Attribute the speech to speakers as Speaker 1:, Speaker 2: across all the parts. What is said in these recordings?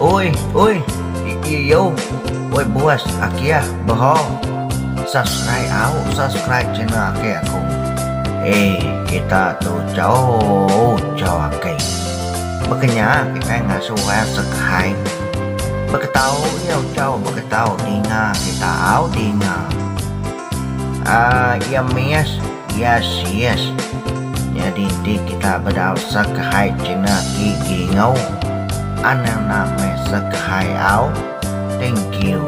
Speaker 1: Oi, oi, iiu, oi buas aki ah bro, subscribe au, subscribe channel aki aku. Eii kita tu jauh jauh aki. Bekenya kitai ngasuh ai subscribe. Beketau iu tau beketau dinga kita au dinga. Aa iya miss yes yes nyadi ti kita bedau sekhai cina gigi ngau anang na meh sekhai au thank you.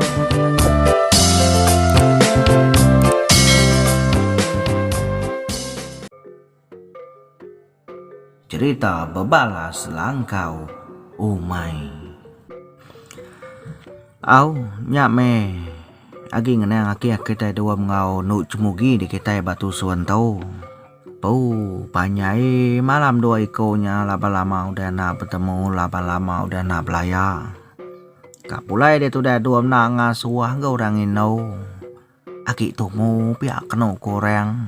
Speaker 1: Cerita bebalas langkau umai. Au nya meh agi ngenang ake kitai dua menggau endo chemugi di kitai ba tusun tu. Pau panjai malam dua iko nya laba lama udah enda betemu laba lama udah enda belaya. Ka pulai ditu udah dua enda ngasuh enggau orang endo. Agi tumu pia kenu ku orang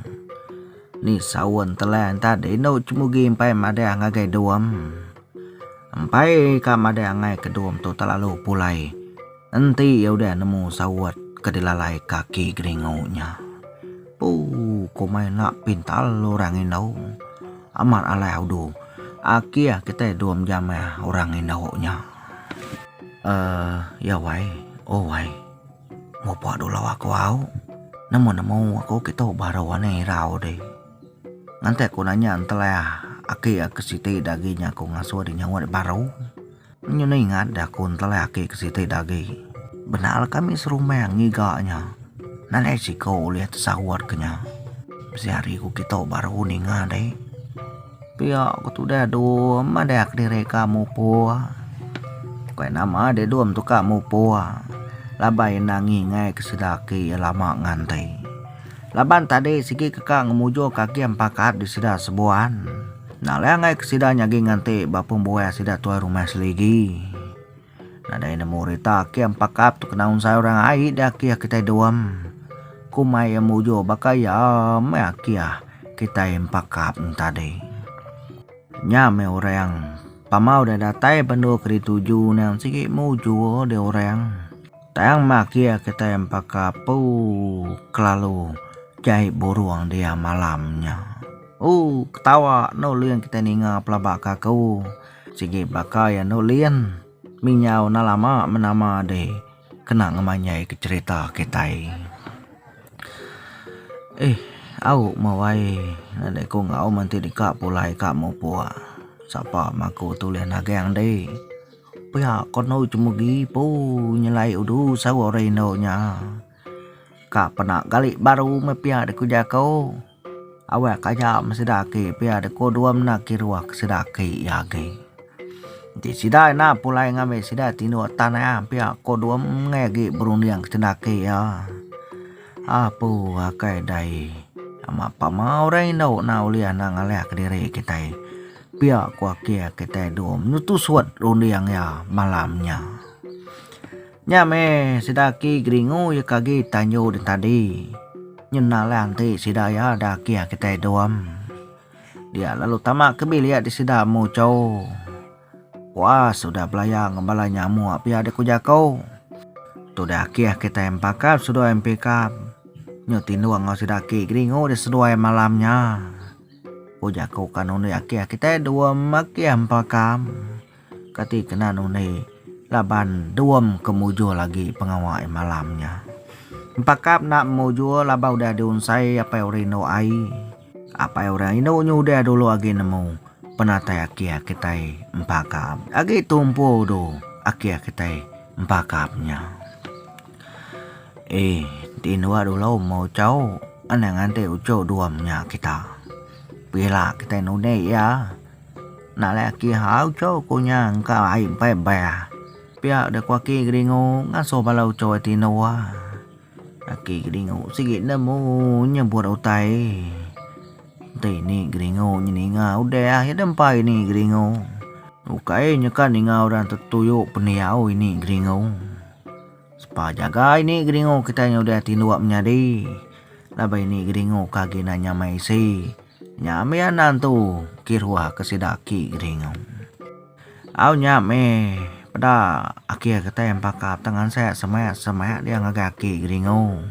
Speaker 1: ni saun telan tadi inu cemugi empai madah ngagai dom. Empai ka madah angai ke dom tu telalu pulai enti iya udah nemu saut ke dilalai kaki geringu nya. Ooh komai enda pintar orang indu amat alai udu akih kitai dom jamah orang indu nya. Aaa ya wai oh wai. Mopa dulau aku au. Nemu-nemu aku kitu baru ane irau deh. Nganti aku nanya entelah aki ke siti dagi nya aku ngasuh deh nyawa deh baru. Nyu ne ingat deh aku entelah aki ke siti dagi. Benarlah kami serumah ngiga nya. Nadai siko ulih tesaut ke nya. Bisi hari ku kitu baru ninga deh. Pia ku tudah dom madah kediri ka mupur. Bukai nama deh dom tu ka mupur. Laban enda ngingai ke sida aki iya lama nganti. Laban tadi sigi ke ka ngemujur ka agih pakat di sida sebuan. Enda leh angai ke sida nyagi nganti ba pembuah sida tuai rumah seligi. Nadai nemu rita ake empakap tu kena unsai orang ai da ake kitai duam. Kumai iya mujur baka iya meh ake kitai empakap tadi. Nya meh orang pamau da datai bendu ke dituju nang sigi mujur di orang. Tang meh ake kitai empakap ooh kelalu jai burung dia malam nya. Ooh ketawa no ling kitai ninga pelaba ka aku. Sigi baka iya endo Lien, Minyau enda lama menama deh kena ngemanjai ke cerita kitai. Ih, au mawai nya deh ku enggau menti deka pulai ka mupuk. Sapa maku tu ulih nagang deh. Pia ko endo cemegi poo nyelai udu sawa rindu nya. Ka pena gali baru meh pia deh ku jaku. Awak aja meh sida aki pia deh ku dua mena kiruh ke sida aki iya agi. Enti sida ina pulai ngambi sida tinduk tanah pia ko dua meh agi berunding ke sida aki iya. Apu akai dai amat pama orang indu na ulih na ngalih ke diri kitai. Pia ko aki kitai dulu menutusut runding iya malam nya. Nya meh sida aki Geringu iya ke agi Tanjung den tadi. Nyenda alai anti sida iya da agi agi kitai Dom. Dia lalu tama ke bilik di sida Mucho. Puas udah belaya enggau bala nyamu nya pia dek ku jako. Tudah aki aki kitai Empakap seduai Empikap. Nyu tindung enggau sida aki Geringu di seduai malam nya. Ku jako kan undi aki kitai Dom aki Empakap. Kati kena nundi laban Duom ke mujur agi pengawa iya malam nya. Empakap enda mujur laban udah diunsai apai orang indu ai. Apai orang indu nya udah dulu agi nemu penatai akhir kitai empakap. Agi tumpu du akhir kitai empakap nya. Eh, ti indu dulu meh uchau anang nganti uchu Duom nya kita. Pila kitai nundi iya. Enda alai aki ha uco ku nya engka ai empai beh. Pia deh ku aki Geringu ngasuh bala uco ai tinu. Aki Geringu sigi nemu nyebut utai. Enti ini Geringu nyeninga udah aja deh empai ini Geringu. Ukai nyeka ninga orang tetuyu pendiau ini Geringu. Sepa jaga ini Geringu kitai udah tinu menyadi laban ini Geringu ke agenda nyamai isi. Nya mih anang tu kiruah ke sida aki geringu. Au nya mih peda akhir ketai empaka petang ansek semak semak dia ngagai aki geringu.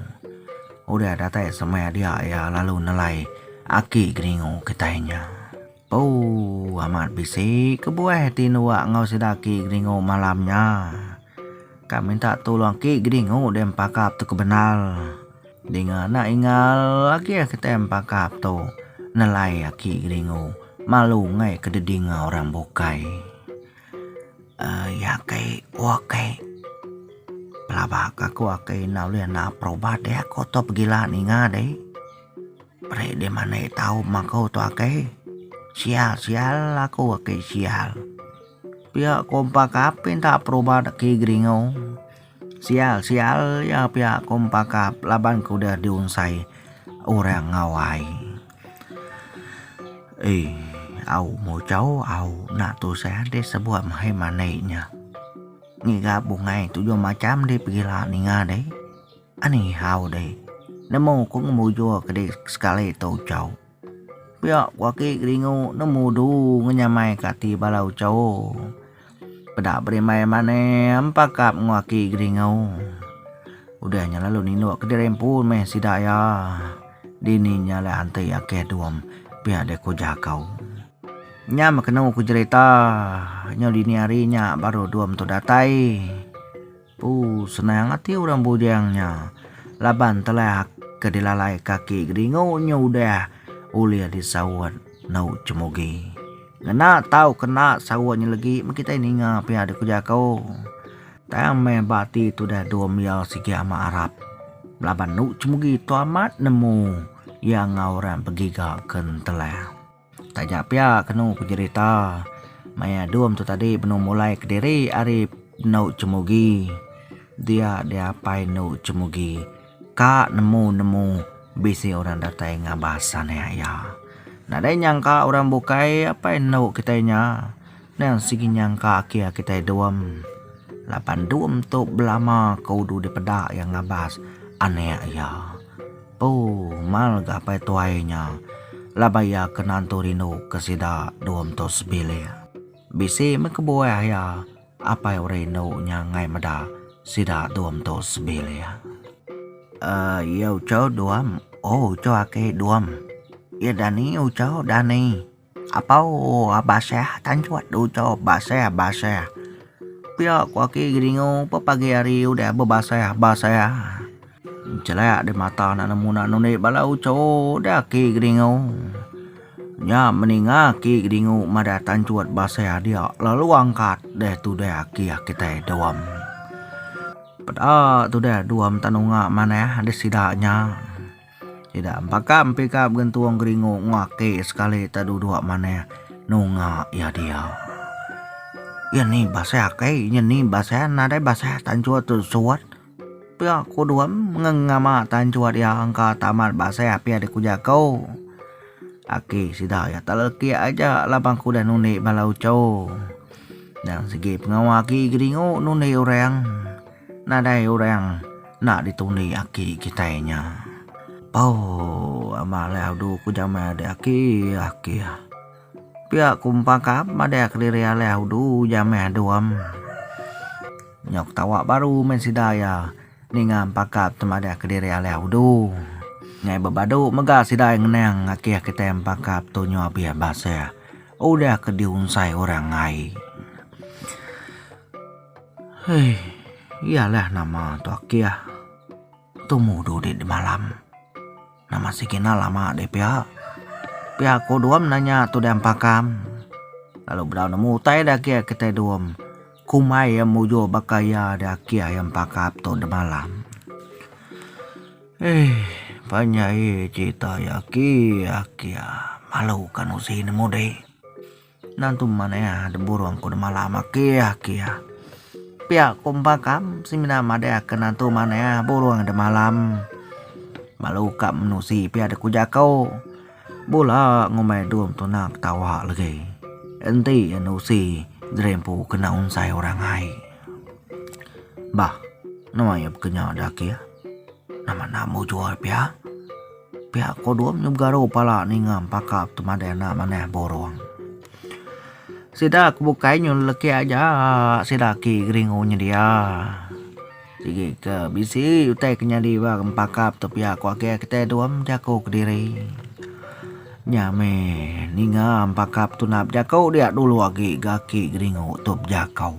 Speaker 1: Udah datai semak dia iya lalu nelai aki geringu kitai nya. Ooh amat bisi kebuah ti nuak enggau sida aki geringu malam nya. Ka minta tulung aki geringu deh empaka tu ke bendar. Dinga enda ingal agi a kitai pakap tu nelai aki Geringu malu ngai ke didinga orang bukai. Um ya kai wak kai pelaba ka ku akai enda ulih na'ap perubat ya ko to pegila ninga dei. Peri dei manei tau ma ko to akai. Sia sial aku akai sial. Pia ko pakap pinta perubat aki Geringu. Sial sial iya pia ku empa kap laban ku udah diunsai orang ngawai. Ey au mojau au na tusah ade sebuah mehai manei nya. Ngiga bungai tujuh macham dei pegila ninga dei. Ani hau dei nemu ku ngemujur ke dei sekali tu chau. Pia ku aki Geringu nemu du ngenyamai ka ati bala ucho. Peda berimbai manem pakap enggau aki Geringu. Udah nya lalu ninuk kediri empu meh sida iya. Dini nya alai anti ake Duam pia dek ku Jaku. Nya meh kenu ku jerita nyau dini hari nya baru Duam tu datai. Ooh senang ati orang bujang nya laban telak ke dilalai kaki Geringu nya udah ulih disaut nau Cemugi. Ngena tau kena saut nya legi meh kitai ninga pia deka jako. Tang meh ba ati tudah dua mia sigi amat arap laban nau Cemugi tu amat nemu iya enggau orang begiga ke Ntelak. Taja pia kenu pejerita maya Dum tu tadi benung mulai kediri ari endu Chemugi dia diapai endu Chemugi ka nemu-nemu bisi orang datai ngabas anek iya. Nadai nyangka orang bukai apai endu kitai nya tang sigi nyangka akie kitai Dum laban Dum tu belama ke udu dipeda iya ngabas anek iya. Pu, mal ga apai tuai nya laban iya ke nantu rindu ke sida dua mentu sebilik. Bisi meh kebuah iya apai orang indu nya ngai meda sida dua mentu sebilik. Uh, iya uco duam. Oh, uco aki duam. Iya dani uco dani. Apau Abasah tanchut di uchup basah basah pia ku aki Geringu pa pagi hari udah bebasah basah nchelak di mata anak nemu anak nundi bala uchup da aki Geringu nya meninga aki Geringu madah tanchut basah dia lalu angkat deh tudah aki kitai Duam peda tudah Duam Tanunga manah di sida nya. Sida empaka empika begentung geringu nguaki sekali ta duduk manah nunga iya dia. Iya ni basa akai iya ni basa nadai basa tanchut tu suat pia kudom ngengama tanchut iya engka tamat basa api ari ku jaku aki sida iya ta leki aja laban ku udah nundi bala uchu nyang sigi pengawa aki geringu nundi orang. Nadai urang enda ditundi aki kitai nya. Pau ama alai adu ku jamai ade aki aki. Pia ku empa ka madai kediri alai adu jamai adu am. Nyau ketawa baru meh sida iya ninga empa ka madai kediri alai adu. Nyai bebadu mega sida ngenang aki kitai empa ka tu nyu abih basa udah ke diunsai urang ai. Hei, iya lah nama tu akih. Tu mudu dek di malam. Nama si kina lama dek pia. Pia ko dua nanya tu dek empakam. Lalu bedau nemu utai dek akih kitai dua. Kumai ya mujur baka iya dek akih ya empakap tu dek malam. Hei, penyai cerita ya aki aki ya. Malu ka nusi nemu dek. Endang tu man iya de burung ku demala makia kia. Pia ku empa kam semina madai aka endang tu man iya burung de malam. Belalu ka menusi pia de ku jako. Bula ngumbai dum tuna ketawa legi. Enti nusi jerempu kena unsai orang ai. Bah nuai iya pekenya de ake. Nama nak mujur pia. Pihak Kodom nya begaru pala ninga empaka petemadai anak manah borong. Sida ke bukai nyu lelekih aja sida aki geringu nyedia. Sigi ke bisi utai ke nyadi ba empaka petepia ku agi kitai Dom jaku kediri. Nya meh ninga empaka petunap jaku dia dulu agi ga aki geringu tu bejakau.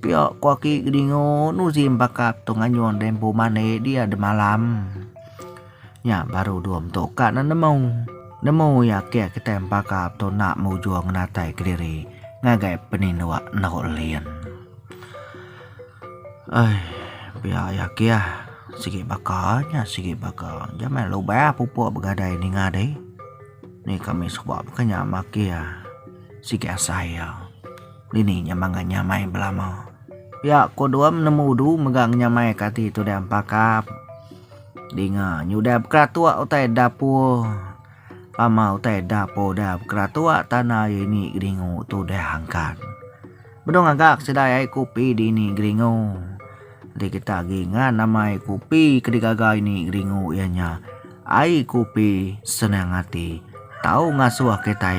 Speaker 1: Pia ku aki Kedingu Nuzi embaka tu nganyung deh empu mande dia demalam. Nya baru dua mentu ka ne nemu. Nemu iya ake kitai embaka tu nak mujung ngenatai kediri ngagai peninduk endur lin. Ai pia iya ake ah sigi baka nya sigi baka jamai lubah pupu begadai ninga deh. Ni kami suba ke nya mak ake sigi asai iya. Dini nya mangga nyamai belama. Pia ko dua menemu udu mega nyamai ka ati tu dang pakap. Dinga nyudah bekeratok utai dapur. Pama utai dapur dah bekeratok tanah ye ni geringu tu dah angkat. Bedong agak sida ai kopi dini geringu. Di kita agi ngan amai kopi ke digaga ini geringu iya nya ai kopi senang ati tau ngasuh kitai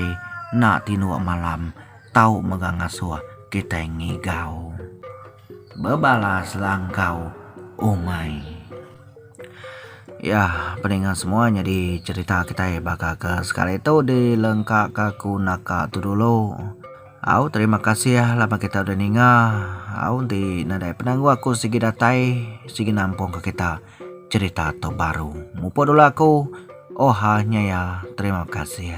Speaker 1: enda tinduk malam Tau mega ngasuh kitai ngigau. Bebalas la enggau umai. Ya, peninga semua nyadi cherita kitai baka ke sekali tu di lengka ka ku naka tu dulu. Au terima kasih laban kita udah ninga. Au enti nadai penanggul aku sigi datai sigi nampung ka kita cherita tu baru. Mupuk dulu aku. Oha nyaya terima kasih.